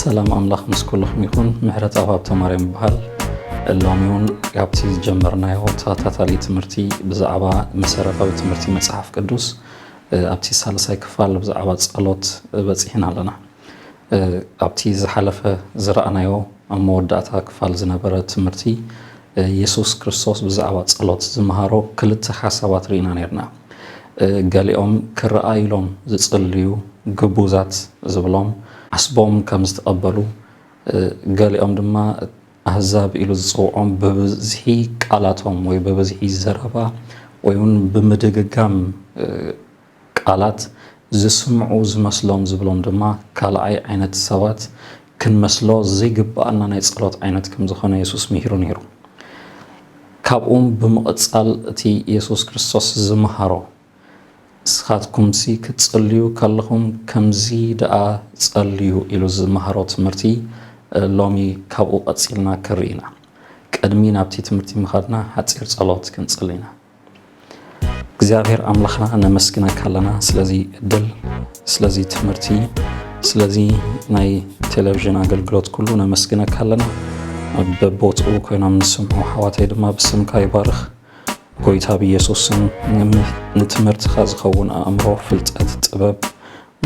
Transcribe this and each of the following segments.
ሰላም ኣምላኽ ምስ ኩልኹም ይኹን ምሕረት ኣብ ሃብተ ማርያም ይበሃል ሎሚ እውን ካብቲ ዝጀመርናዮ ተኸታታሊ ትምህርቲ ብዛዕባ መሰረታዊ ትምህርቲ መፅሓፍ ቅዱስ ኣብቲ ሳልሳይ ክፋል ብዛዕባ ጸሎት በጺሕና ኣለና። ኣብቲ ዝሓለፈ ዝረኣናዮ ኣብ መወዳእታ ክፋል ዝነበረ ትምህርቲ የሱስ ክርስቶስ ብዛዕባ ጸሎት ዝመሃሮ ክልተ ሓሳባት ርኢና ኔርና። ገሊኦም ክረኣዩሎም ዝጽልዩ ግቡዛት ዝብሎም ዓስቦም ከም ዝተቐበሉ ገሊኦም ድማ ኣህዛብ ኢሉ ዝጽውዖም ብብዝሒ ቃላቶም ወይ ብብዝሒ ዘረባ ወይ እውን ብምድግጋም ቃላት ዝስምዑ ዝመስሎም ዝብሎም ድማ ካልኣይ ዓይነት ሰባት ክንመስሎ ዘይግብኣና ናይ ጸሎት ዓይነት ከም ዝኾነ የሱስ ምሂሩ ነይሩ። ካብኡም ብምቕጻል እቲ የሱስ ክርስቶስ ዝመሃሮ ንስኻትኩምሲ ክትጽልዩ ከለኹም ከምዚ ደኣ ጸልዩ ኢሉ ዝመሃሮ ትምህርቲ ሎሚ ካብኡ ቀጺልና ክንርኢ ኢና። ቅድሚ ናብቲ ትምህርቲ ምኻድና ሓጺር ጸሎት ክንጽሊ ኢና። እግዚኣብሔር ኣምላኽና ነመስግነካ ኣለና ስለዚ እድል ስለዚ ትምህርቲ ስለዚ ናይ ቴሌቭዥን ኣገልግሎት ኩሉ ነመስግነካ ኣለና። በቦትኡ ኮይኖም ንስምዑ ኣሕዋተይ ድማ ብስምካ ይባርኽ። ጎይታ ብየሱስ ስም ንትምህርትካ ዝከውን ኣእምሮ ፍልጠት ጥበብ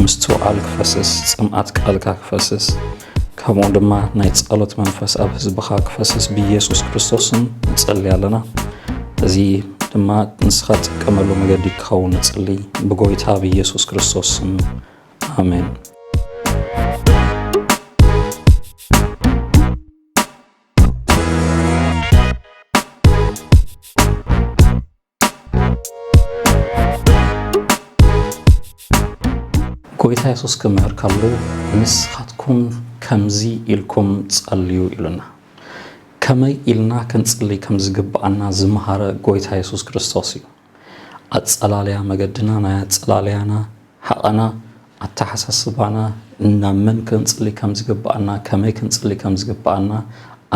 ምስትውዓል ክፈስስ ጽምኣት ቃልካ ክፈስስ ከምኡ ድማ ናይ ጸሎት መንፈስ ኣብ ህዝብካ ክፈስስ ብየሱስ ክርስቶስ ስም ንጸልይ ኣለና እዚ ድማ ንስካ ትጥቀመሉ መገዲ ክኸውን ንጽልይ ብጎይታ ብየሱስ ክርስቶስ ስም ኣሜን ጎይታ የሱስ ክምህር ከሉ ንስኻትኩም ከምዚ ኢልኩም ጸልዩ ኢሉና። ከመይ ኢልና ክንጽሊ ከም ዝግብኣና ዝመሃረ ጎይታ የሱስ ክርስቶስ እዩ። ኣጸላልያ መገድና፣ ናይ ኣጸላልያና ሃቐና፣ ኣተሓሳስባና፣ ናብ መን ክንጽሊ ከም ዝግብኣና፣ ከመይ ክንጽሊ ከም ዝግብኣና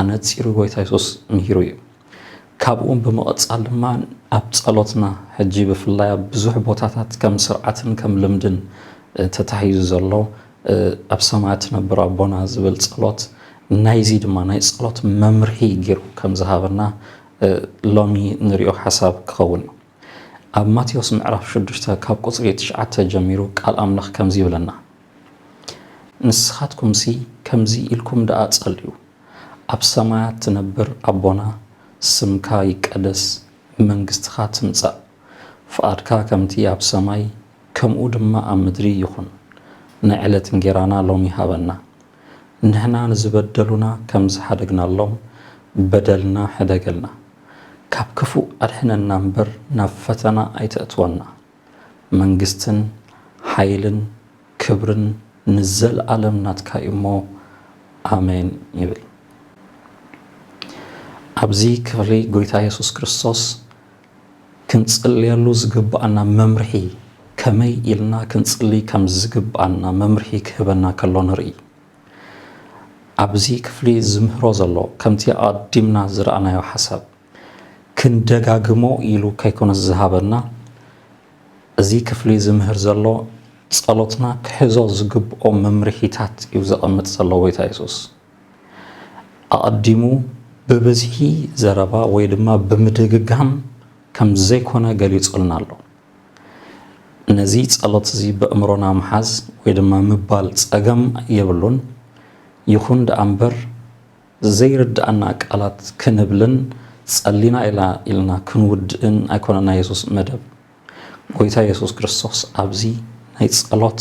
ኣነጺሩ ጎይታ የሱስ ምሂሩ እዩ። ካብኡ ብምቕጻል ድማ ኣብ ጸሎትና ሕጂ ብፍላይ ኣብ ብዙሕ ቦታታት ከም ስርዓትን ከም ልምድን ተታሒዙ ዘሎ ኣብ ሰማያት ትነብር ኣቦና ዝብል ጸሎት ናይዚ ድማ ናይ ጸሎት መምርሒ ጌሩ ከም ዝሃበና ሎሚ ንሪኦ ሓሳብ ክኸውን ኣብ ማቴዎስ ምዕራፍ ሽዱሽተ ካብ ቁጽሪ ትሽዓተ ጀሚሩ ቃል ኣምላኽ ከምዚ ይብለና ንስኻትኩምሲ ከምዚ ኢልኩም ደኣ ጸልዩ ኣብ ሰማያት ትነብር ኣቦና ስምካ ይቀደስ መንግስትኻ ትምጻእ ፍቓድካ ከምቲ ኣብ ሰማይ ከምኡ ድማ ኣብ ምድሪ ይኹን ናይ ዕለት እንጌራና ሎሚ ሃበና ንሕና ንዝበደሉና ከም ዝሓደግናሎም በደልና ሕደገልና። ካብ ክፉእ ኣድሕነና እምበር ናብ ፈተና ኣይተእትወና። መንግስትን ሓይልን ክብርን ንዘልኣለም ናትካ እዩ እሞ ኣሜን ይብል። ኣብዚ ክፍሊ ጎይታ የሱስ ክርስቶስ ክንጽልየሉ ዝግብኣና መምርሒ፣ ከመይ ኢልና ክንጽሊ ከም ዝግብኣና መምርሒ ክህበና ከሎ ንርኢ። ኣብዚ ክፍሊ ዝምህሮ ዘሎ፣ ከምቲ ኣቐዲምና ዝረኣናዮ ሓሳብ፣ ክንደጋግሞ ኢሉ ከይኮነስ ዝሃበና፣ እዚ ክፍሊ ዝምህር ዘሎ፣ ጸሎትና ክሕዞ ዝግብኦ መምርሒታት እዩ ዘቐምጥ ዘሎ ጐይታ የሱስ። ኣቐዲሙ ብብዝሒ ዘረባ ወይ ድማ ብምድግጋም ከም ዘይኮነ ገሊጹልና ኣሎ። ነዚ ጸሎት እዚ በእምሮና ምሓዝ ወይ ድማ ምባል ጸገም የብሉን። ይኹን ደኣ እምበር ዘይርድኣና ቃላት ክንብልን ጸሊና ኢላ ኢልና ክንውድእን ኣይኮነን ናይ የሱስ መደብ። ጎይታ የሱስ ክርስቶስ ኣብዚ ናይ ጸሎት።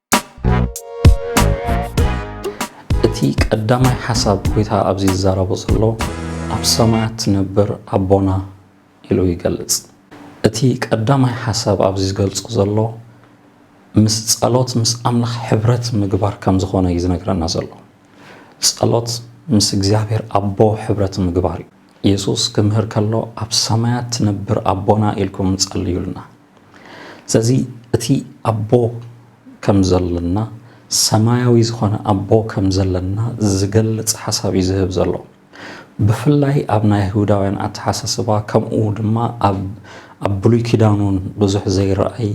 እቲ ቀዳማይ ሓሳብ ጎይታ ኣብዚ ዝዛረቦ ዘሎ ኣብ ሰማያት ትነብር ኣቦና ኢሉ ይገልጽ። እቲ ቀዳማይ ሓሳብ ኣብዚ ዝገልጾ ዘሎ ምስ ጸሎት ምስ ኣምላኽ ሕብረት ምግባር ከም ዝኾነ እዩ ዝነግረና ዘሎ። ጸሎት ምስ እግዚኣብሔር ኣቦ ሕብረት ምግባር እዩ። የሱስ ክምህር ከሎ ኣብ ሰማያት ትነብር ኣቦና ኢልኩም ጸልዩልና፣ ስለዚ እቲ ኣቦ ከም ዘለና ሰማያዊ ዝኾነ ኣቦ ከም ዘለና ዝገልጽ ሓሳብ እዩ ዝህብ ዘሎ ብፍላይ ኣብ ናይ ይሁዳውያን ኣተሓሳስባ ከምኡ ድማ ኣብ ብሉይ ኪዳኑን ብዙሕ ዘይረኣይ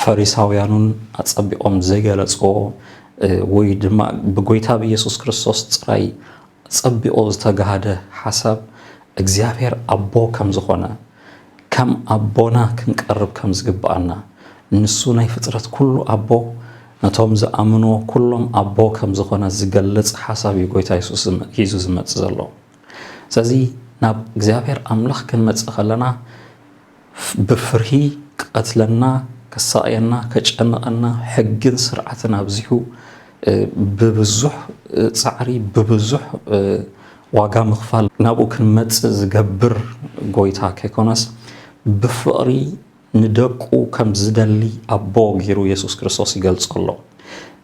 ፈሪሳውያኑን ኣጸቢቖም ዘይገለጽዎ ወይ ድማ ብጎይታ ብኢየሱስ ክርስቶስ ጥራይ ጸቢቑ ዝተጋሃደ ሓሳብ እግዚኣብሔር ኣቦ ከም ዝኾነ ከም ኣቦና ክንቀርብ ከም ዝግብኣና፣ ንሱ ናይ ፍጥረት ኩሉ ኣቦ፣ ነቶም ዝኣምንዎ ኩሎም ኣቦ ከም ዝኾነ ዝገልጽ ሓሳብ እዩ ጎይታ የሱስ ሒዙ ዝመጽእ ዘሎ። ስለዚ ናብ እግዚኣብሔር ኣምላኽ ክንመጽእ ከለና ብፍርሂ ክቀትለና፣ ከሳቕየና፣ ከጨንቐና፣ ሕግን ስርዓትን ኣብዚሑ፣ ብብዙሕ ጻዕሪ ብብዙሕ ዋጋ ምኽፋል ናብኡ ክንመጽእ ዝገብር ጎይታ ከይኮነስ ብፍቕሪ ንደቁ ከም ዝደሊ ኣቦ ገይሩ የሱስ ክርስቶስ ይገልጾ ኣሎ።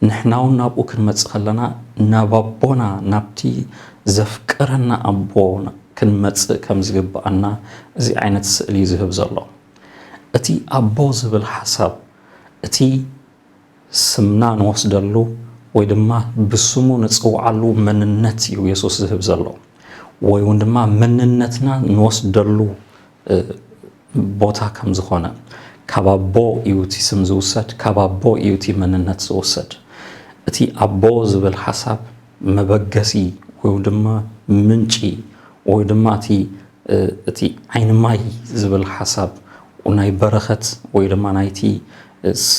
ንሕና እውን ናብኡ ክንመጽእ ከለና ናብ ኣቦና ናብቲ ዘፍቅረና ኣቦ ክንመጽእ ከም ዝግብኣና እዚ ዓይነት ስእሊ እዩ ዝህብ ዘሎ። እቲ ኣቦ ዝብል ሓሳብ እቲ ስምና ንወስደሉ ወይ ድማ ብስሙ ንጽውዓሉ መንነት እዩ የሱስ ዝህብ ዘሎ ወይ እውን ድማ መንነትና ንወስደሉ ቦታ ከም ዝኾነ ካብ ኣቦ እዩ እቲ ስም ዝውሰድ ካብ ኣቦ እዩ እቲ መንነት ዝውሰድ እቲ ኣቦ ዝብል ሓሳብ መበገሲ ወይ ድማ ምንጪ ወይ ድማ እቲ እቲ ዓይኒ ማይ ዝብል ሓሳብ ናይ በረኸት ወይ ድማ ናይቲ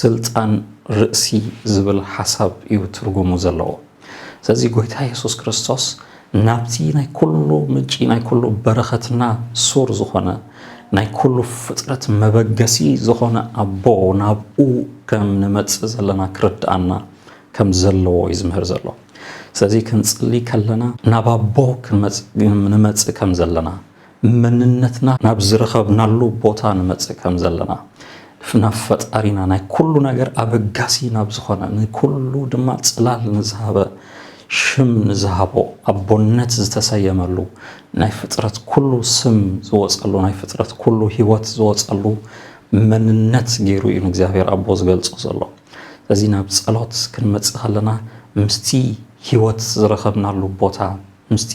ስልጣን ርእሲ ዝብል ሓሳብ እዩ ትርጉሙ ዘለዎ። ስለዚ ጎይታ የሱስ ክርስቶስ ናብቲ ናይ ኩሉ ምንጪ ናይ ኩሉ በረኸትና ሱር ዝኾነ ናይ ኩሉ ፍጥረት መበገሲ ዝኾነ ኣቦ ናብኡ ከም ንመጽእ ዘለና ክርድኣና ከም ዘለዎ እዩ ዝምህር ዘሎ። ስለዚ ክንጽሊ ከለና ናብ ኣቦ ንመጽእ ከም ዘለና መንነትና ናብ ዝረኸብናሉ ቦታ ንመጽእ ከም ዘለና ናብ ፈጣሪና ናይ ኩሉ ነገር ኣበጋሲ ናብ ዝኾነ ንኩሉ ድማ ጽላል ንዝሃበ ሽም ንዝሃቦ ኣቦነት ዝተሰየመሉ ናይ ፍጥረት ኩሉ ስም ዝወጸሉ ናይ ፍጥረት ኩሉ ህይወት ዝወጸሉ መንነት ገይሩ እዩ ንእግዚኣብሔር ኣቦ ዝገልጾ ዘሎ። ስለዚ ናብ ጸሎት ክንመጽእ ከለና ምስቲ ህይወት ዝረኸብናሉ ቦታ ምስቲ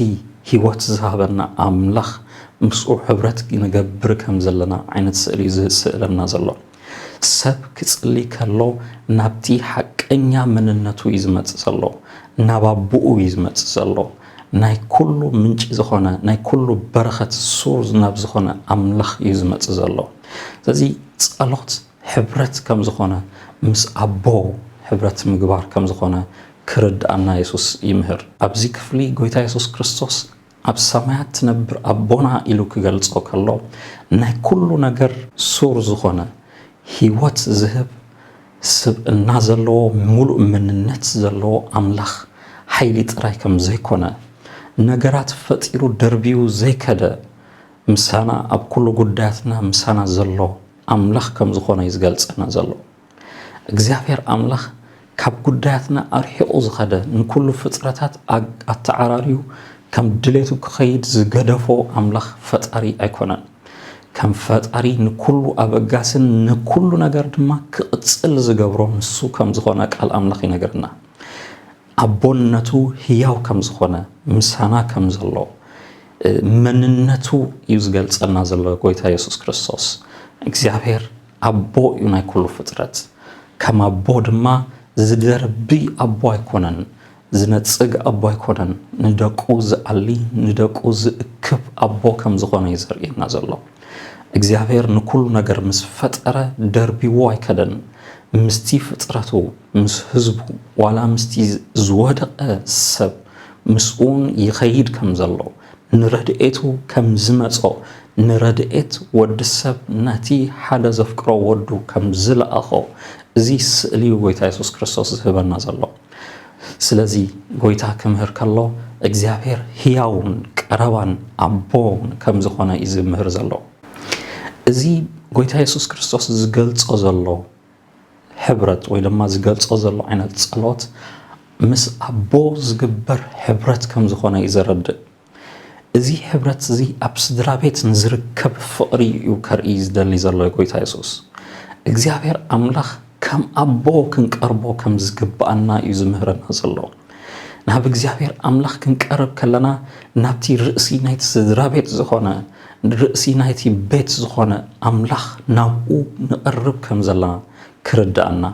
ህይወት ዝሃበና ኣምላኽ ምስኡ ሕብረት ክንገብር ከም ዘለና ዓይነት ስእሊ እዩ ዝስእለና ዘሎ። ሰብ ክጽሊ ከሎ ናብቲ ሓቀኛ መንነቱ እዩ ዝመጽእ ዘሎ፣ ናብ ኣቦኡ እዩ ዝመጽእ ዘሎ። ናይ ኩሉ ምንጪ ዝኾነ ናይ ኩሉ በረኸት ሱር ናብ ዝኾነ ኣምላኽ እዩ ዝመጽእ ዘሎ። ስለዚ ጸሎት ሕብረት ከም ዝኾነ ምስ ኣቦ ሕብረት ምግባር ከም ዝኾነ ክርድኣና የሱስ ይምህር። ኣብዚ ክፍሊ ጎይታ የሱስ ክርስቶስ ኣብ ሰማያት ትነብር ኣቦና ኢሉ ክገልጾ ከሎ ናይ ኩሉ ነገር ሱር ዝኾነ ህይወት ዝህብ ስብእና ዘለዎ ምሉእ መንነት ዘለዎ ኣምላኽ ሓይሊ ጥራይ ከም ዘይኮነ ነገራት ፈጢሩ ደርብዩ ዘይከደ ምሳና ኣብ ኩሉ ጉዳያትና ምሳና ዘሎ ኣምላኽ ከም ዝኾነ እዩ ዝገልጸና ዘሎ። እግዚኣብሔር ኣምላኽ ካብ ጉዳያትና ኣርሒቑ ዝኸደ ንኩሉ ፍጥረታት ኣተዓራርዩ ከም ድሌቱ ክኸይድ ዝገደፎ ኣምላኽ ፈጣሪ ኣይኮነን። ከም ፈጣሪ ንኩሉ ኣበጋስን ንኩሉ ነገር ድማ ክቕጽል ዝገብሮ ንሱ ከም ዝኾነ ቃል ኣምላኽ ይነግረና። ኣቦነቱ ህያው ከም ዝኾነ ምሳና ከም ዘሎ መንነቱ እዩ ዝገልጸልና ዘሎ ጎይታ የሱስ ክርስቶስ እግዚኣብሔር ኣቦ እዩ ናይ ኩሉ ፍጥረት ከም ኣቦ ድማ ዝደርቢ ኣቦ ኣይኮነን ዝነጽግ ኣቦ ኣይኮነን ንደቁ ዝኣሊ ንደቁ ዝእክብ ኣቦ ከም ዝኾነ እዩ ዘርእየና ዘሎ እግዚኣብሔር ንኩሉ ነገር ምስ ፈጠረ ደርቢዎ ኣይከደን ምስቲ ፍጥረቱ ምስ ህዝቡ ዋላ ምስቲ ዝወደቐ ሰብ ምስኡውን ይኸይድ ከም ዘሎ፣ ንረድኤቱ ከም ዝመጾ፣ ንረድኤት ወዲ ሰብ ነቲ ሓደ ዘፍቅሮ ወዱ ከም ዝለኣኾ እዚ ስእሊ እዩ ጎይታ የሱስ ክርስቶስ ዝህበና ዘሎ። ስለዚ ጎይታ ክምህር ከሎ እግዚኣብሔር ህያውን ቀረባን ኣቦን ከም ዝኾነ እዩ ዝምህር ዘሎ። እዚ ጎይታ የሱስ ክርስቶስ ዝገልጾ ዘሎ ሕብረት ወይ ድማ ዝገልጾ ዘሎ ዓይነት ጸሎት ምስ ኣቦ ዝግበር ሕብረት ከም ዝኾነ እዩ ዘረድእ። እዚ ሕብረት እዚ ኣብ ስድራ ቤት ንዝርከብ ፍቕሪ እዩ ከርኢ ዝደሊ ዘሎ ጎይታ የሱስ። እግዚኣብሔር ኣምላኽ ከም ኣቦ ክንቀርቦ ከም ዝግብኣና እዩ ዝምህረና ዘሎ። ናብ እግዚኣብሔር ኣምላኽ ክንቀርብ ከለና ናብቲ ርእሲ ናይቲ ስድራ ቤት ዝኾነ ርእሲ ናይቲ ቤት ዝኾነ ኣምላኽ ናብኡ ንቐርብ ከም ዘለና ክርድኣና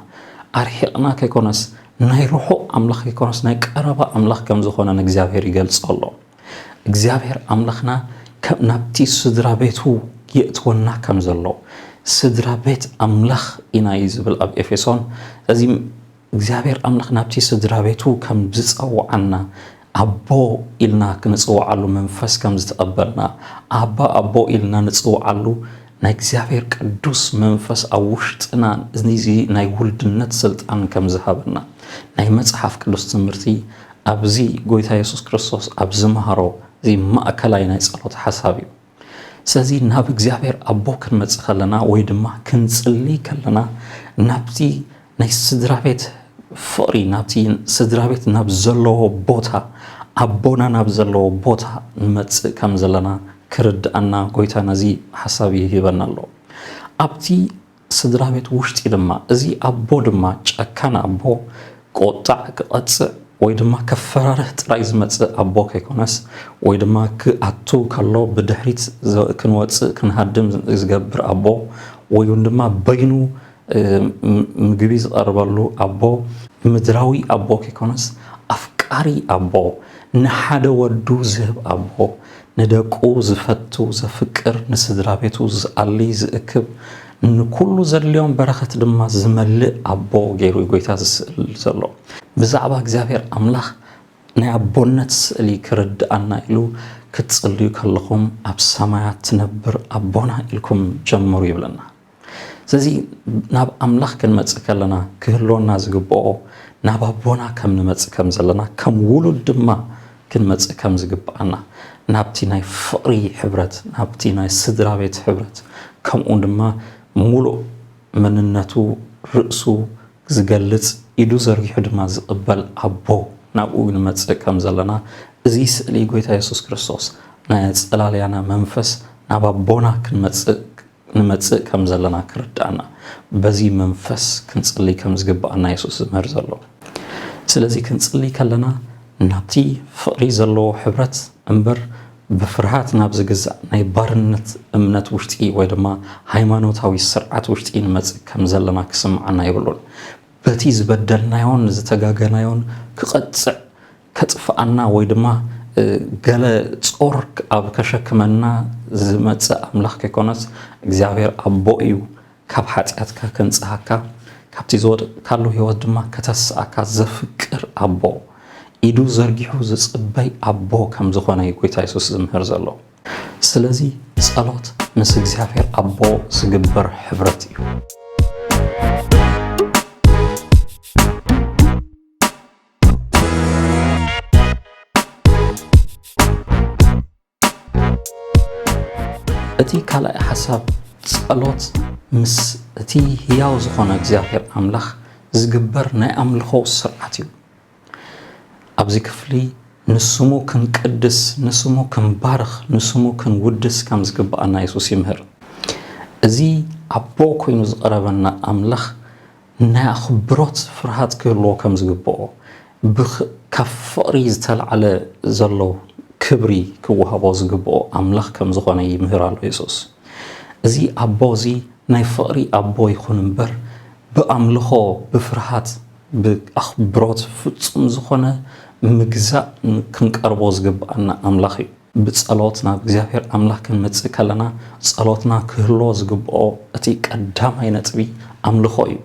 ኣርሒቕና ከይኮነስ ናይ ርሑቕ ኣምላኽ ከይኮነስ ናይ ቀረባ ኣምላኽ ከም ዝኾነ ንእግዚኣብሔር ይገልጾ ኣሎ እግዚኣብሔር ኣምላኽና ናብቲ ስድራ ቤቱ የእትወና ከም ዘሎ ስድራ ቤት ኣምላኽ ኢና እዩ ዝብል ኣብ ኤፌሶን እዚ እግዚኣብሔር ኣምላኽ ናብቲ ስድራቤቱ ከም ዝጸውዓና ኣቦ ኢልና ክንጽውዓሉ መንፈስ ከም ዝተቐበልና ኣባ ኣቦ ኢልና ንጽውዓሉ ናይ እግዚኣብሔር ቅዱስ መንፈስ ኣብ ውሽጥና እዚ ናይ ውልድነት ስልጣን ከም ዝሃበና ናይ መጽሓፍ ቅዱስ ትምህርቲ ኣብዚ ጎይታ የሱስ ክርስቶስ ኣብ ዝመሃሮ እዚ ማእከላይ ናይ ጸሎት ሓሳብ እዩ። ስለዚ ናብ እግዚኣብሔር ኣቦ ክንመጽእ ከለና ወይ ድማ ክንጽልይ ከለና ናብቲ ናይ ስድራ ቤት ፍቕሪ ናብቲ ስድራ ቤት ናብ ዘለዎ ቦታ ኣቦና ናብ ዘለዎ ቦታ ንመጽእ ከም ዘለና ክርድኣና ጎይታ ነዚ ሓሳብ ይህበና ኣሎ ኣብቲ ስድራቤት ውሽጢ ድማ እዚ ኣቦ ድማ ጨካን ኣቦ ክቁጣዕ ክቀጽዕ ወይ ድማ ከፈራርህ ጥራይ ዝመጽእ ኣቦ ከይኮነስ ወይ ድማ ክኣቱ ከሎ ብድሕሪት ክንወጽእ ክንሃድም ዝገብር ኣቦ ወይ ውን ድማ በይኑ ምግቢ ዝቀርበሉ ኣቦ ምድራዊ ኣቦ ከይኮነስ ኣፍቃሪ ኣቦ ንሓደ ወዱ ዝህብ ኣቦ ንደቁ ዝፈቱ ዘፍቅር፣ ንስድራቤቱ ዝኣሊ ዝእክብ፣ ንኩሉ ዘድልዮም በረኸት ድማ ዝመልእ ኣቦ ገይሩ እዩ ጎይታ ዝስእል ዘሎ። ብዛዕባ እግዚኣብሔር ኣምላኽ ናይ ኣቦነት ስእሊ ክርድኣና ኢሉ ክትጽልዩ ከለኹም ኣብ ሰማያት ትነብር ኣቦና ኢልኩም ጀምሩ ይብለና። ስለዚ ናብ ኣምላኽ ክንመጽእ ከለና ክህልወና ዝግብኦ ናብ ኣቦና ከም ንመጽእ ከም ዘለና ከም ውሉድ ድማ ክንመጽእ ከም ዝግብኣና ናብቲ ናይ ፍቕሪ ሕብረት ናብቲ ናይ ስድራ ቤት ሕብረት ከምኡ ድማ ሙሉእ መንነቱ ርእሱ ዝገልጽ ኢዱ ዘርጊሑ ድማ ዝቕበል ኣቦ ናብኡ ንመጽእ ከም ዘለና እዚ ስእሊ ጎይታ የሱስ ክርስቶስ ናይ ኣጸላልያና መንፈስ ናብ ኣቦና ክንመጽእ ንመጽእ ከም ዘለና ክርድኣና በዚ መንፈስ ክንጽሊ ከም ዝግብኣና የሱስ ዝምህር ዘሎ። ስለዚ ክንጽሊ ከለና ናብቲ ፍቕሪ ዘለዎ ሕብረት እምበር ብፍርሃት ናብ ዝግዛእ ናይ ባርነት እምነት ውሽጢ ወይ ድማ ሃይማኖታዊ ስርዓት ውሽጢ ንመጽእ ከም ዘለና ክስምዓና የብሉን። በቲ ዝበደልናዮን ዝተጋገናዮን ክቐጽዕ ከጥፍኣና ወይ ድማ ገለ ጾር ኣብ ከሸክመና ዝመጽእ ኣምላኽ ከይኮነስ እግዚኣብሔር ኣቦ እዩ ካብ ሓጢኣትካ ከንጽሃካ ካብቲ ዝወደቅካሉ ህይወት ድማ ከተስኣካ ዘፍቅር ኣቦ ኢዱ ዘርጊሑ ዝጽበይ ኣቦ ከም ዝኾነ እዩ ጎይታ የሱስ ዝምህር ዘሎ ስለዚ ጸሎት ምስ እግዚኣብሔር ኣቦ ዝግበር ሕብረት እዩ እቲ ካልኣይ ሓሳብ ጸሎት ምስ እቲ ህያው ዝኾነ እግዚኣብሔር ኣምላኽ ዝግበር ናይ ኣምልኾ ስርዓት እዩ ኣብዚ ክፍሊ ንስሙ ክንቅድስ ንስሙ ክንባርኽ ንስሙ ክንውድስ ከም ዝግብኣና የሱስ ይምህር እዚ ኣቦ ኮይኑ ዝቐረበና ኣምላኽ ናይ ኣኽብሮት ፍርሃት ክህልዎ ከም ዝግብኦ፣ ካብ ፍቕሪ ዝተላዕለ ዘሎ ክብሪ ክወሃቦ ዝግብኦ ኣምላኽ ከም ዝዀነ ይምህር ኣሎ የሱስ። እዚ ኣቦ እዚ ናይ ፍቕሪ ኣቦ ይኹን እምበር፣ ብኣምልኾ ብፍርሃት ብኣኽብሮት ፍጹም ዝዀነ ምግዛእ ክንቀርቦ ዝግብኣና ኣምላኽ ኢዩ። ብጸሎት ናብ እግዚኣብሔር ኣምላኽ ክንመጽእ ከለና ጸሎትና ክህልዎ ዝግብኦ እቲ ቀዳማይ ነጥቢ ኣምልኾ እዩ።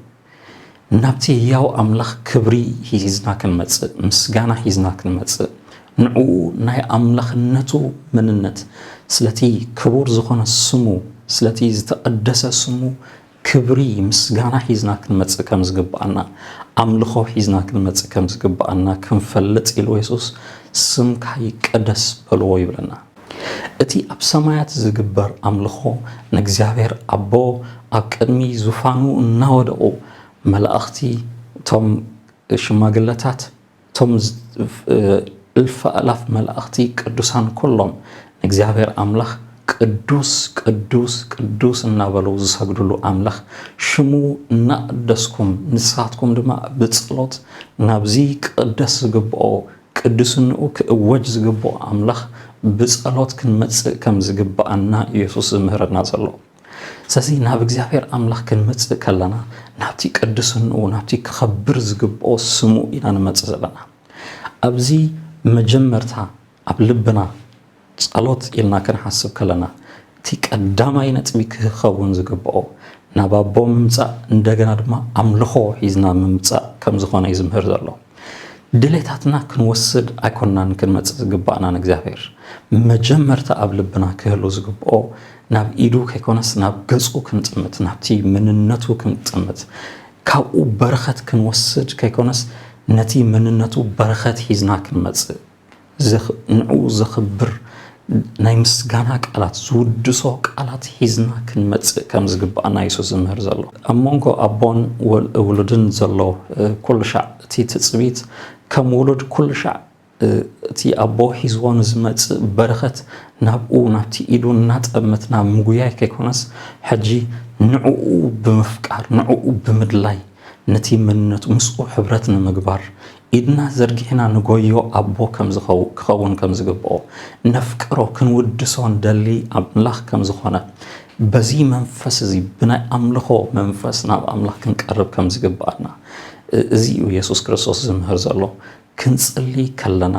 ናብቲ ህያው ኣምላኽ ክብሪ ሂዝና ክንመጽእ፣ ምስጋና ሂዝና ክንመጽእ፣ ንዕኡ ናይ ኣምላኽነቱ መንነት፣ ስለቲ ክቡር ዝኾነ ስሙ፣ ስለቲ ዝተቐደሰ ስሙ ክብሪ ምስጋና ሒዝና ክንመጽእ ከም ዝግብኣና፣ ኣምልኾ ሒዝና ክንመጽእ ከም ዝግብኣና ክንፈልጥ ኢሉ የሱስ ስምካ ይቀደስ በልዎ ይብለና። እቲ ኣብ ሰማያት ዝግበር ኣምልኾ ንእግዚኣብሔር ኣቦ ኣብ ቅድሚ ዙፋኑ እናወደቑ መላእኽቲ እቶም ሽማግለታት እቶም እልፍ ኣእላፍ መላእኽቲ ቅዱሳን ኩሎም ንእግዚኣብሔር ኣምላኽ ቅዱስ ቅዱስ ቅዱስ እናበሉ ዝሰግድሉ ኣምላኽ ሽሙ እናቐደስኩም ንሳትኩም ድማ ብጸሎት ናብዚ ክቕደስ ዝግብኦ ቅድስንኡ ክእወጅ ዝግብኦ ኣምላኽ ብጸሎት ክንመጽእ ከም ዝግብኣና ኢየሱስ ዝምህረና ዘሎ። ስለዚ ናብ እግዚኣብሔር ኣምላኽ ክንመጽእ ከለና ናብቲ ቅድስንኡ ናብቲ ክኸብር ዝግብኦ ስሙ ኢና ንመጽእ ዘለና ኣብዚ መጀመርታ ኣብ ልብና ጸሎት ኢልና ክንሓስብ ከለና እቲ ቀዳማይ ነጥቢ ክኸውን ዝግብኦ ናብ ኣቦ ምምጻእ እንደገና ድማ ኣምልኾ ሒዝና ምምጻእ ከም ዝኾነ እዩ ዝምህር ዘሎ። ድሌታትና ክንወስድ ኣይኮናን ክንመጽእ ዝግባእና ንእግዚኣብሔር መጀመርታ ኣብ ልብና ክህሉ ዝግብኦ ናብ ኢዱ ከይኮነስ ናብ ገጹ ክንጥምት ናብቲ መንነቱ ክንጥምት ካብኡ በረኸት ክንወስድ ከይኮነስ ነቲ መንነቱ በረኸት ሒዝና ክንመጽእ ንዕኡ ዘኽብር ናይ ምስጋና ቃላት፣ ዝውድሶ ቃላት ሒዝና ክንመጽእ ከም ዝግብኣና ኢየሱስ ዝምህር ዘሎ። ኣብ መንጎ ኣቦን ውሉድን ዘሎ ኩሉሻዕ እቲ ትጽቢት ከም ውሉድ ኩሉሻዕ እቲ ኣቦ ሒዝዎ ንዝመጽእ በረኸት ናብኡ ናብቲ ኢዱ እናጠመትና ምጉያይ ከይኮነስ ሕጂ ንዕኡ ብምፍቃር ንዕኡ ብምድላይ ነቲ መንነቱ ምስኡ ሕብረት ንምግባር ኢድና ዘርጊሕና ንጎዮ ኣቦ ከምዝኸው ክኸውን ከምዝግብኦ ነፍቅሮ ክንውድሶ ንደሊ ኣምላኽ ከምዝኾነ በዚ መንፈስ እዚ ብናይ ኣምልኾ መንፈስ ናብ ኣምላኽ ክንቀርብ ከምዝግብኣና እዚ እዩ የሱስ ክርስቶስ ዝምህር ዘሎ ክንጽሊ ከለና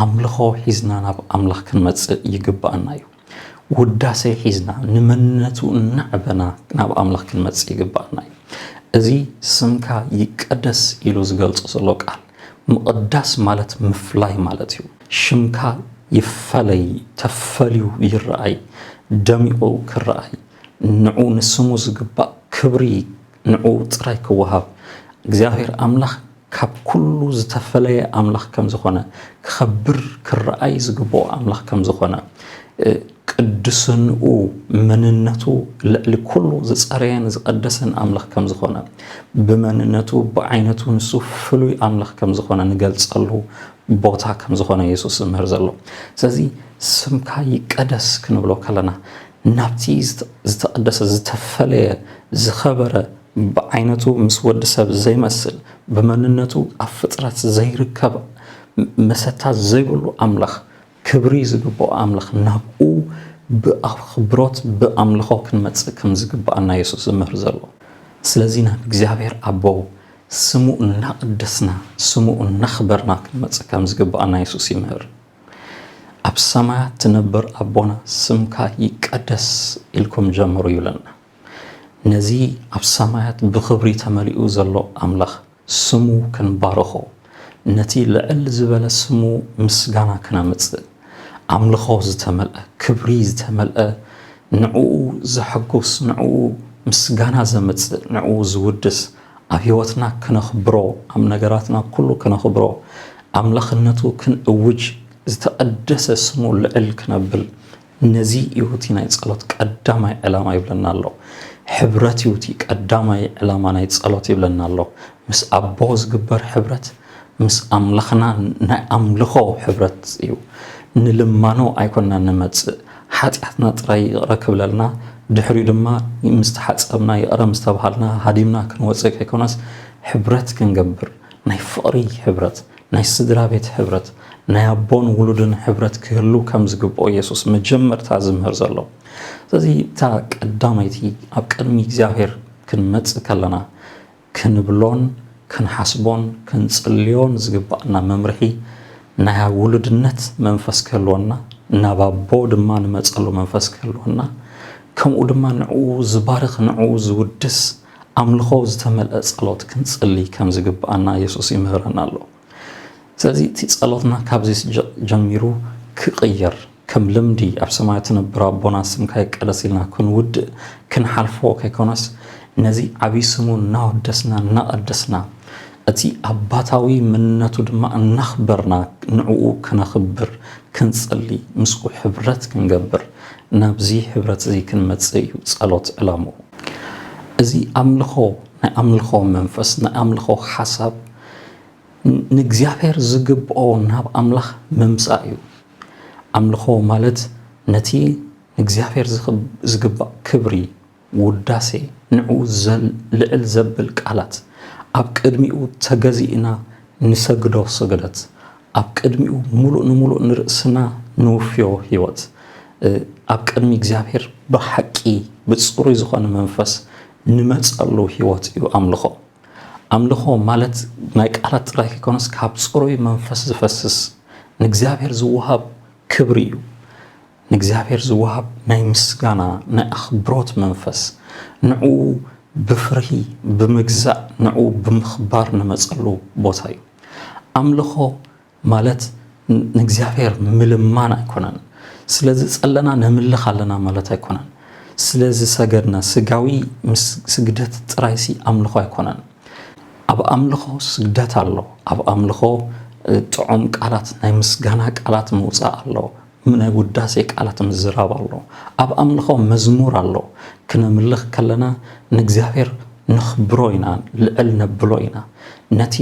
ኣምልኾ ሒዝና ናብ ኣምላኽ ክንመጽእ ይግብኣና እዩ ውዳሴ ሒዝና ንመንነቱ እናዕበና ናብ ኣምላኽ ክንመጽእ ይግብኣና እዩ። እዚ ስምካ ይቀደስ ኢሉ ዝገልጾ ዘሎ ቃል፣ ምቕዳስ ማለት ምፍላይ ማለት እዩ። ሽምካ ይፈለይ፣ ተፈልዩ ይረኣይ፣ ደሚቑ ክረኣይ፣ ንዑ ንስሙ ዝግባእ ክብሪ ንዕኡ ጥራይ ክወሃብ እግዚኣብሔር ኣምላኽ ካብ ኩሉ ዝተፈለየ ኣምላኽ ከም ዝኾነ ክኸብር ክረኣይ ዝግብኦ ኣምላኽ ከም ዝኾነ ቅድስንኡ መንነቱ ልዕሊ ኩሉ ዝጸረየን ዝቐደሰን ኣምላኽ ከም ዝኾነ ብመንነቱ ብዓይነቱ ንሱ ፍሉይ ኣምላኽ ከም ዝኾነ ንገልጸሉ ቦታ ከም ዝኾነ የሱስ ዝምህር ዘሎ ስለዚ ስምካ ይቀደስ ክንብሎ ከለና ናብቲ ዝተቐደሰ ዝተፈለየ ዝኸበረ ብዓይነቱ ምስ ወዲ ሰብ ዘይመስል ብመንነቱ ኣብ ፍጥረት ዘይርከብ መሰታ ዘይብሉ ኣምላኽ ክብሪ ዝግብኦ ኣምላኽ ናብኡ ብኣኽብሮት ብኣምልኾ ክንመጽእ ከም ዝግብኣና የሱስ ዝምህር ዘሎ ስለዚ ናብ እግዚኣብሔር ኣቦ ስሙ እናቐደስና ስሙ እናኽበርና ክንመጽእ ከም ዝግብኣና የሱስ ይምህር ኣብ ሰማያት ትነብር ኣቦና ስምካ ይቀደስ ኢልኩም ጀምሩ ይብለና። ነዚ ኣብ ሰማያት ብኽብሪ ተመሊኡ ዘሎ ኣምላኽ ስሙ ክንባርኾ፣ ነቲ ልዕል ዝበለ ስሙ ምስጋና ክነምጽእ፣ ኣምልኾ ዝተመልአ፣ ክብሪ ዝተመልአ፣ ንዕኡ ዘሐጉስ፣ ንዕኡ ምስጋና ዘምጽእ፣ ንዕኡ ዝውድስ፣ ኣብ ሕይወትና ክነኽብሮ ኣብ ነገራትና ኩሉ ክነኽብሮ ኣምላኽነቱ ክንእውጅ ዝተቐደሰ ስሙ ልዕል ክነብል ነዚ ይሁቲ ናይ ጸሎት ቀዳማይ ዕላማ ይብለና ኣሎ ሕብረት ይሁቲ ቀዳማይ ዕላማ ናይ ጸሎት ይብለና ኣሎ ምስ ኣቦ ዝግበር ሕብረት ምስ ኣምላኽና ናይ ኣምልኾ ሕብረት እዩ ንልማኖ ኣይኮንና ንመጽእ ሓጢኣትና ጥራይ ይቕረ ክብለልና፣ ድሕሪኡ ድማ ምስ ተሓጸብና ይቕረ ምስ ተባሃልና ሃዲምና ክንወጽእ ከይኮነስ፣ ሕብረት ክንገብር፣ ናይ ፍቕሪ ሕብረት፣ ናይ ስድራቤት ሕብረት፣ ናይ ኣቦን ውሉድን ሕብረት ክህሉ ከም ዝግብኦ የሱስ መጀመርታ ዝምህር ዘሎ። ስለዚ እታ ቀዳመይቲ ኣብ ቅድሚ እግዚኣብሄር ክንመጽእ ከለና፣ ክንብሎን ክንሓስቦን ክንጽልዮን ዝግባእና መምርሒ ናይ ኣብ ውሉድነት መንፈስ ክህልወና ናብ ኣቦ ድማ ንመጸሉ መንፈስ ክህልወና ከምኡ ድማ ንዕኡ ዝባርኽ ንዕኡ ዝውድስ ኣምልኾ ዝተመልአ ጸሎት ክንጽሊ ከም ዝግባኣና የሱስ ይምህረና ኣሎ። ስለዚ እቲ ጸሎትና ካብዚ ጀሚሩ ክቕየር ከም ልምዲ ኣብ ሰማያት ትነብር ኣቦና ስምካ ይቀደስ ኢልና ክንውድእ ክንሓልፎ ከይኮነስ ነዚ ዓብዪ ስሙ እናወደስና እናቐደስና እቲ ኣባታዊ ምንነቱ ድማ እናኽበርና ንዕኡ ክነኽብር ክንጽሊ ምስኡ ሕብረት ክንገብር ናብዚ ሕብረት እዚ ክንመጽእ እዩ ጸሎት ዕላምኡ። እዚ ኣምልኾ ናይ ኣምልኾ መንፈስ ናይ ኣምልኾ ሓሳብ ንእግዚኣብሔር ዝግብኦ ናብ ኣምላኽ ምምጻእ እዩ። ኣምልኾ ማለት ነቲ ንእግዚኣብሔር ዝግባእ ክብሪ፣ ውዳሴ፣ ንዕኡ ልዕል ዘብል ቃላት፣ ኣብ ቅድሚኡ ተገዚእና ንሰግዶ ስግደት፣ ኣብ ቅድሚኡ ምሉእ ንምሉእ ንርእስና ንውፍዮ ሕይወት፣ ኣብ ቅድሚ እግዚኣብሔር ብሓቂ ብጽሩይ ዝኾነ መንፈስ ንመጸሉ ሕይወት እዩ ኣምልኾ። ኣምልኾ ማለት ናይ ቃላት ጥራይ ከይኮነስ ካብ ጽሩይ መንፈስ ዝፈስስ ንእግዚኣብሔር ዝወሃብ ክብሪ እዩ። ንእግዚኣብሔር ዝወሃብ ናይ ምስጋና ናይ ኣኽብሮት መንፈስ ንዕኡ ብፍርሂ ብምግዛእ ንዕኡ ብምኽባር ንመጸሉ ቦታ እዩ። ኣምልኾ ማለት ንእግዚኣብሔር ምልማን ኣይኮነን ስለዚ ጸለና ነምልኽ ኣለና ማለት ኣይኮነን ስለዚ ሰገድና ስጋዊ ምስ ስግደት ጥራይሲ ኣምልኾ ኣይኮነን ኣብ ኣምልኾ ስግደት ኣሎ ኣብ ኣምልኾ ጥዑም ቃላት ናይ ምስጋና ቃላት ምውፃእ ኣሎ ናይ ውዳሴ ቃላት ምዝራብ ኣሎ ኣብ ኣምልኾ መዝሙር ኣሎ ክነምልኽ ከለና ንእግዚኣብሔር ነኽብሮ ኢና ልዕል ነብሎ ኢና ነቲ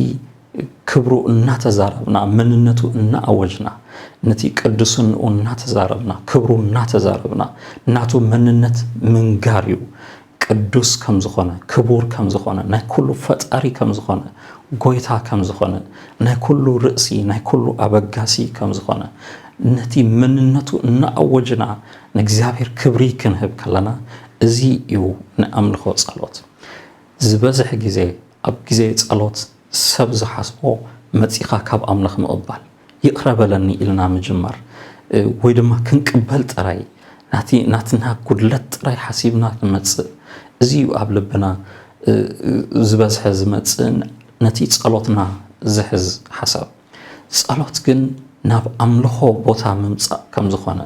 ክብሩ እናተዛረብና፣ መንነቱ እናኣወጅና፣ ነቲ ቅዱስንኡ እናተዛረብና፣ ክብሩ እናተዛረብና፣ ናቱ መንነት ምንጋር እዩ። ቅዱስ ከም ዝኾነ፣ ክቡር ከም ዝኾነ፣ ናይ ኩሉ ፈጣሪ ከም ዝኾነ፣ ጎይታ ከም ዝኾነ፣ ናይ ኩሉ ርእሲ፣ ናይ ኩሉ ኣበጋሲ ከም ዝኾነ፣ ነቲ መንነቱ እናኣወጅና ንእግዚኣብሔር ክብሪ ክንህብ ከለና እዚ እዩ ንኣምልኾ ጸሎት። ዝበዝሕ ግዜ ኣብ ግዜ ጸሎት ሰብ ዝሓስቦ መጺኻ ካብ ኣምላኽ ምቕባል፣ ይቕረ በለኒ ኢልና ምጅማር ወይ ድማ ክንቅበል ጥራይ ናቲ ናትና ጉድለት ጥራይ ሓሲብና ክንመጽእ እዚ እዩ ኣብ ልብና ዝበዝሐ ዝመጽእን ነቲ ጸሎትና ዝሕዝ ሓሳብ። ጸሎት ግን ናብ ኣምልኾ ቦታ ምምጻእ ከም ዝኾነ፣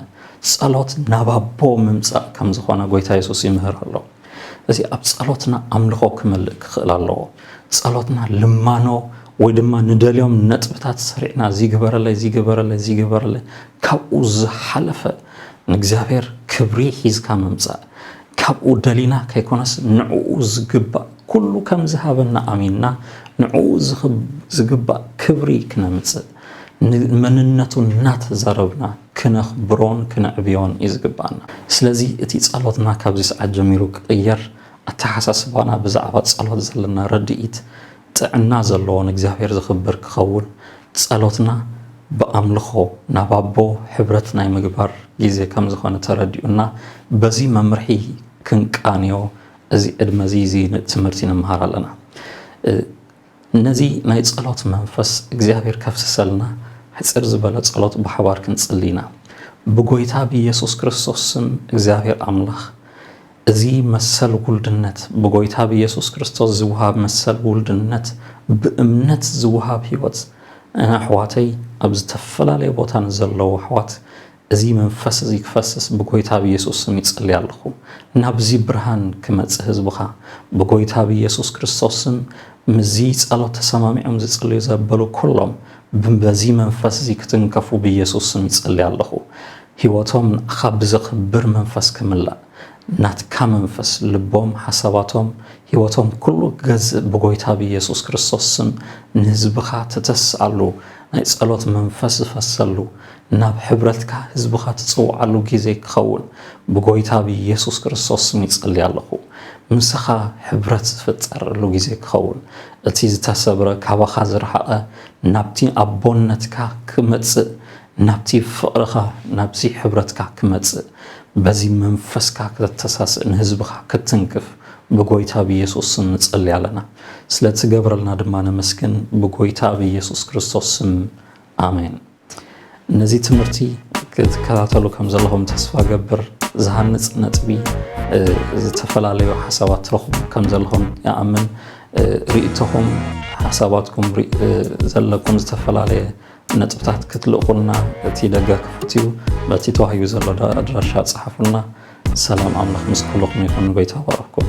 ጸሎት ናብ ኣቦ ምምጻእ ከም ዝኾነ ጎይታ የሱስ ይምህር ኣሎ። እዚ ኣብ ጸሎትና ኣምልኾ ክመልእ ክኽእል ኣለዎ። ጸሎትና ልማኖ ወይ ድማ ንደልዮም ነጥብታት ሰሪዕና እዚ ግበረለይ እዚ ግበረለይ እዚ ግበረለይ ካብኡ ዝሓለፈ ንእግዚኣብሔር ክብሪ ሒዝካ ምምጻእ ካብኡ ደሊና ከይኮነስ ንዕኡ ዝግባእ ኩሉ ከም ዝሃበና ኣሚንና ንዕኡ ዝግባእ ክብሪ ክነምጽእ ንመንነቱ እናተዛረብና ክነኽብሮን ክነዕብዮን እዩ ዝግባኣና። ስለዚ እቲ ጸሎትና ካብዚ ሰዓት ጀሚሩ ክቕየር ኣተሓሳስባና ብዛዕባ ጸሎት ዘለና ርድኢት ጥዕና ዘለዎ ንእግዚኣብሔር ዘኽብር ክኸውን ጸሎትና ብኣምልኾ ናብ ኣቦ ሕብረት ናይ ምግባር ጊዜ ከም ዝኾነ ተረዲኡና በዚ መምርሒ ክንቃንዮ እዚ ዕድመ እዚ እዚ ትምህርቲ ንመሃር ኣለና። ነዚ ናይ ጸሎት መንፈስ እግዚኣብሔር ከፍስሰልና ሕጽር ዝበለ ጸሎት ብሓባር ክንጽሊ ኢና። ብጎይታ ብኢየሱስ ክርስቶስ ስም እግዚኣብሔር ኣምላኽ እዚ መሰል ውልድነት ብጎይታ ብየሱስ ክርስቶስ ዝወሃብ መሰል ውልድነት ብእምነት ዝወሃብ ህይወት እነ ኣሕዋተይ ኣብ ዝተፈላለየ ቦታ ንዘለዉ ኣሕዋት እዚ መንፈስ እዚ ክፈስስ ብጎይታ ብየሱስ ስም ይጽሊ ኣለኹ ናብዚ ብርሃን ክመጽ ህዝብኻ ብጎይታ ብየሱስ ክርስቶስ ስም ምዚ ጸሎት ተሰማሚዖም ዝጽልዩ ዘበሉ ኩሎም ብበዚ መንፈስ እዚ ክትንከፉ ብየሱስ ስም ይጽሊ ኣለኹ ሂወቶም ንኣኻ ብዘኽብር መንፈስ ክምላእ ናትካ መንፈስ ልቦም ሓሳባቶም ሂወቶም ኩሉ ክገዝእ ብጎይታ ብየሱስ ክርስቶስ ስም ንህዝብኻ ትተስኣሉ ናይ ጸሎት መንፈስ ዝፈሰሉ ናብ ሕብረትካ ህዝብኻ ትጽውዓሉ ግዜ ክኸውን ብጎይታ ብየሱስ ክርስቶስ ስም ይጸሊ ኣለኹ ምሳኻ ሕብረት ዝፍጠረሉ ግዜ ክኸውን እቲ ዝተሰብረ ካባኻ ዝረሓቐ ናብቲ ኣቦነትካ ክመጽእ ናብቲ ፍቕርኻ ናብዚ ሕብረትካ ክመጽእ በዚ መንፈስካ ከተተሳስእ ንህዝብኻ ክትትንክፍ ብጎይታ ብየሱስ ስም ንጸሊ ኣለና ስለ ትገብረልና ድማ ነመስግን ብጎይታ ብየሱስ ክርስቶስ ስም ኣሜን ነዚ ትምህርቲ ክትከታተሉ ከም ዘለኹም ተስፋ ገብር ዝሃንጽ ነጥቢ ዝተፈላለዩ ሓሳባት ትረኽቡ ከም ዘለኹም ይኣምን ርእቶኹም ሓሳባትኩም ዘለኩም ዝተፈላለየ ነጥብታት ክትልእኹልና እቲ ደገ ክፉት እዩ። በቲ ተዋሂቡ ዘሎ ኣድራሻ ጸሓፉልና። ሰላም ኣምላኽ ምስ ኩልኹም ይኹን። ጎይታ ይባርኽኩም።